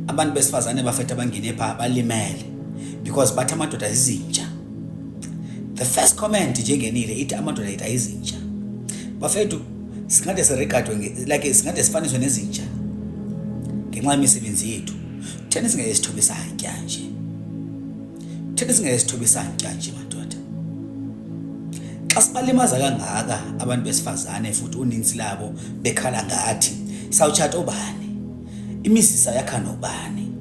abantu besifazane bafethu abangene pha balimele because bathi amadoda izinja the first comment nje engenile ithi amadoda yethu ayizinja bafethu singade siregadwe like singade sifaniswe nezinja ngenxa yemisebenzi yethu thina singeke sithobe isantya nje thina singeke sithobe isantya nje madoda xa sibalimaza kangaka abantu besifazane futhi uninzi labo bekhala ngathi sawutshata obani imizisa yakha nobani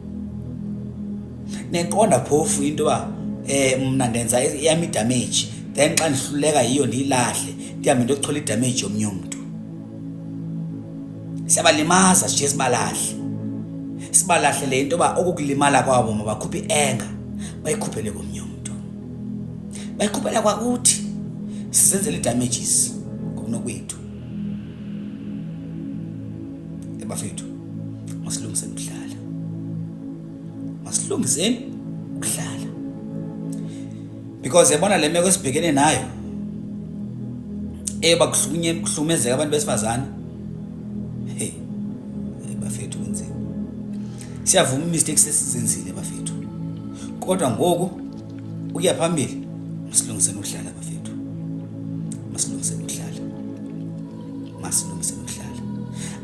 neqonda phofu into yoba um mna ndenza eyam idamage then xa ndihluleka yiyo ndiyilahle ndihambe ndiyochola idamage yomnye umntu siyabalimaza sishiye sibalahle sibalahle le into yoba okukulimala kwabo mabakhuphe i-enga bayikhuphele komnye umntu bayikhuphela kwakuthi sizenzela ii-damages ngokunokwethu bafethu masilungiseni ukudlala masilungiseni ukudlala because yabona le meko esibhekene nayo eba kuhlunye kuhlumezeka abantu besifazane hey bafethu kunzima siyavuma imistakes esizenzile bafethu kodwa ngoku ukuya phambili masilungiseni ukuhlala bafethu masilungiseni ukuhlala masilungiseni ukuhlala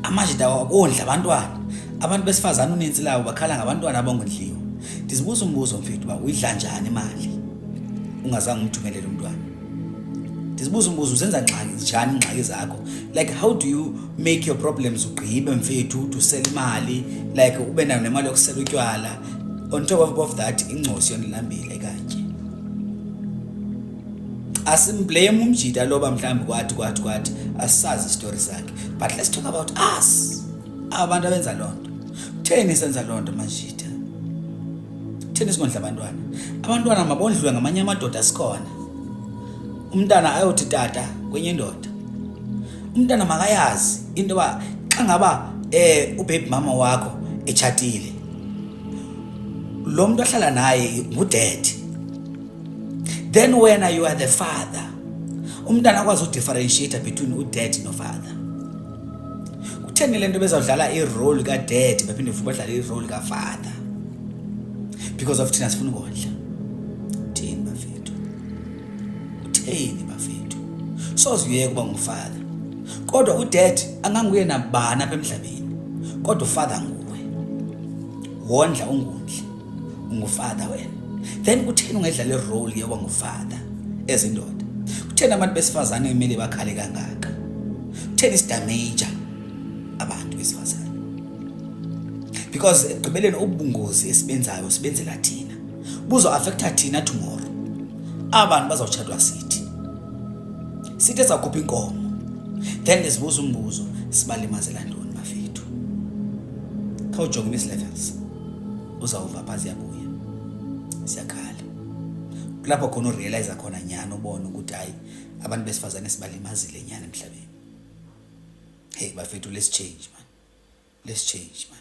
amajita wabondla abantwana abantu besifazane uninzi lawo bakhala ngabantwana abongondliwa ndizibuza umbuzo mfethu uba uyidla njani imali ungazange umthumelele umntwana ndizibuza umbuzo uzenza ngxaki njani ingxaki zakho like how do you make your problems ugqibe mfethu ude usela imali like ube nayo nemali yokusela utywala on top of above that ingcosi yondilambile kanje asimblame umjita loba mhlawumbi kwathi kwathi kwathi asisazi isitori sakhe but let's talk about us abantu abenza loo nto kutheni senza loo nto majita kutheni singondla abantwana abantwana mabondliwe ngamanye amadoda sikhona umntana ayothi tata kwenye indoda umntana makayazi into yoba xa ngaba um ubebi mama wakho etshatile lo mntu ahlala naye ngudedi then wena you are the father umntana akwazi udifferentiate between udedi nofather kutheni le nto bezawudlala irole kadedi baphinde futhi badlale irole kafather because of thina sifuna ukondla utheni bafethu soze uyeke uba ngufather kodwa udad anganguye nabani apha emhlabeni kodwa ufather nguwe wondla ungundli ungufather wena then kutheni ungedlala irole yoba ngufather ezindoda kutheni abantu besifazane kumele bakhale kangaka kutheni sidamaja abantu besifazane because ekugqibeleni ubungozi esibenzayo sibenzela thina buzo affecta thina tomorrow abantu bazawutshatwa sithi sithi ezakhupha inkomo then ndizibuza umbuzo sibalimazela ntoni mafethu khawujonge miss levels uzawuva pha ziyabuya siyakhala kulapho khona urealize khona nyhani ubone ukuthi hayi abantu besifazane sibalimazile nyhani emhlabeni hey bafethu let's change man let's change man